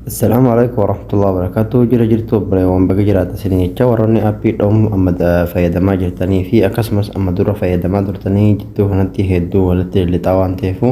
Assalaamu alaikum warahmatullahi wabarakatuh jira jirtu obboleewwan baga jiraata isin jecha warroonni appii dhoomu amma da- fayyadamaa jirtanii fi akkasumas amma dura fayyadamaa turtanii jidduu kanatti hedduu walitti lixaa waan ta'eefu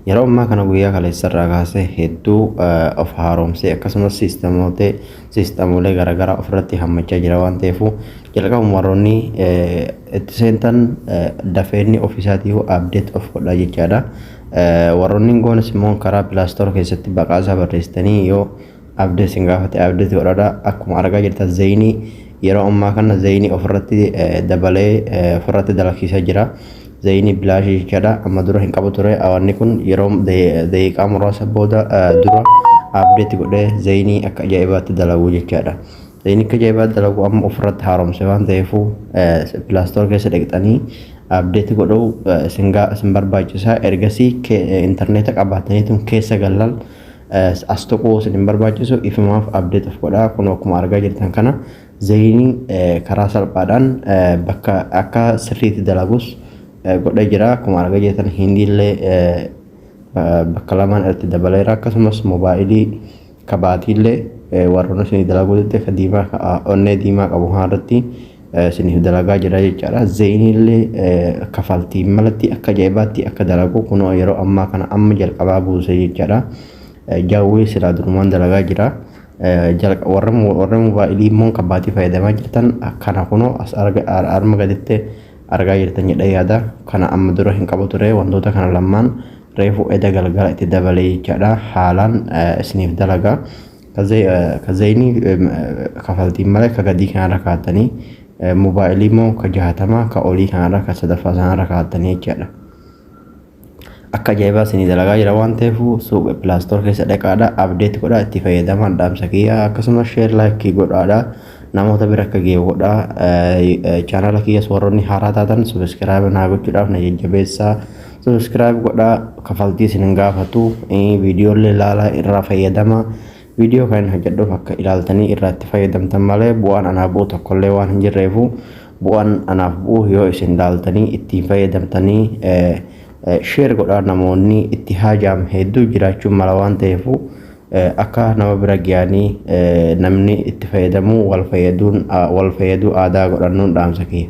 yeroo ammaa kana guyyaa kaleessarraa kaasee hedduu eh, of haaromsee akkasumas siistamootee siistamoolee garaagaraa ofirratti hammachaa jira waan ta'eefu jalqabuma warroonni eh, itti seentan eh, dafeenni ofiisaatii abdeet of godhaa jechaadha. Warroonni hin goones immoo karaa pilaastoor keessatti baqaa isaa barreessitanii yoo abdee isin gaafate abdeeti godhadha. Akkuma argaa jirtan zayinii yeroo ammaa kana zayinii ofirratti dabalee ofirratti dalagsiisaa jira. Zayinii bilaashii jechaadha. Amma dura hin qabu ture. Awanni kun yeroo daqiiqaa muraasa booda dura abdeeti godhee zayinii akka ajaa'ibaatti dalagu jechaadha. Liinikka jaibaa dalagu amma ofirratti haaromse waan ta'eefu Play Store keessa dhaqxanii update godhuu isin gaa isin barbaachisa ergasii interneeta qabaataniitum keessa gallan as tuquu isin hin barbaachisu ifumaaf update of godhaa kun akkuma argaa jirtan kana zeeyinii karaa salphaadhaan bakka akka sirriitti dalagus godhee jira akkuma argaa jirtan hindiillee bakka lamaan irratti dabaleera akkasumas moobaayilii Ka baatiillee warroota isinii dalaguu didde ka diimaa ka onnee diimaa qabu kana irratti isiniif dalagaa jira jechaadha. Zeyniillee kafaltiin malatti akka ajaa'ibaatti akka dalagu kunoo yeroo ammaa kana amma jalqabaa buuse jechaadha. Jawwee silaa durumaan dalagaa jira. Warra moobaayilii immoo ka baatii fayyadamaa jirtan kana kunoo as arma gaditti argaa jirtan jedhee yaada. Kana amma dura hin qabu ture wantoota kana lamaan reefu eda galgala itti dabalee jechaadha haalaan isiniif dalaga ka zayni kafaltiin malee ka gadii kanarra kaatanii mobaayilii immoo ka jahatama ka olii kanarra ka sadaffaa sanarra kaatanii jechaadha akka ajaa'ibaa isinii dalagaa jira waan ta'eef suuqa pilaastoor keessa dhaqaadha abdeet godhaa itti fayyadamaa dhaamsa kiyya akkasumas sheer laayikii godhaadha namoota bira akka ga'e godha chaanala kiyyas warroonni haaraa taatan sabiskiraayib naa gochuudhaaf na jajjabeessaa Subscribe godhaa kafaltii isin hin gaafatu video illee ilaalaa irraa fayyadama video kan hojjedhuuf akka ilaaltanii irraa itti fayyadamtan malee bu'aan anaa bu'u tokko illee waan hin jirreefu bu'aan anaaf bu'u yoo isin ilaaltanii ittiin fayyadamtanii share godhaa namoonni itti haajaam hedduu jiraachuun mala waan ta'eefu akka nama bira ga'anii namni itti fayyadamuu wal fayyaduun wal fayyaduu aadaa godhannuun dhaamsa kiyya.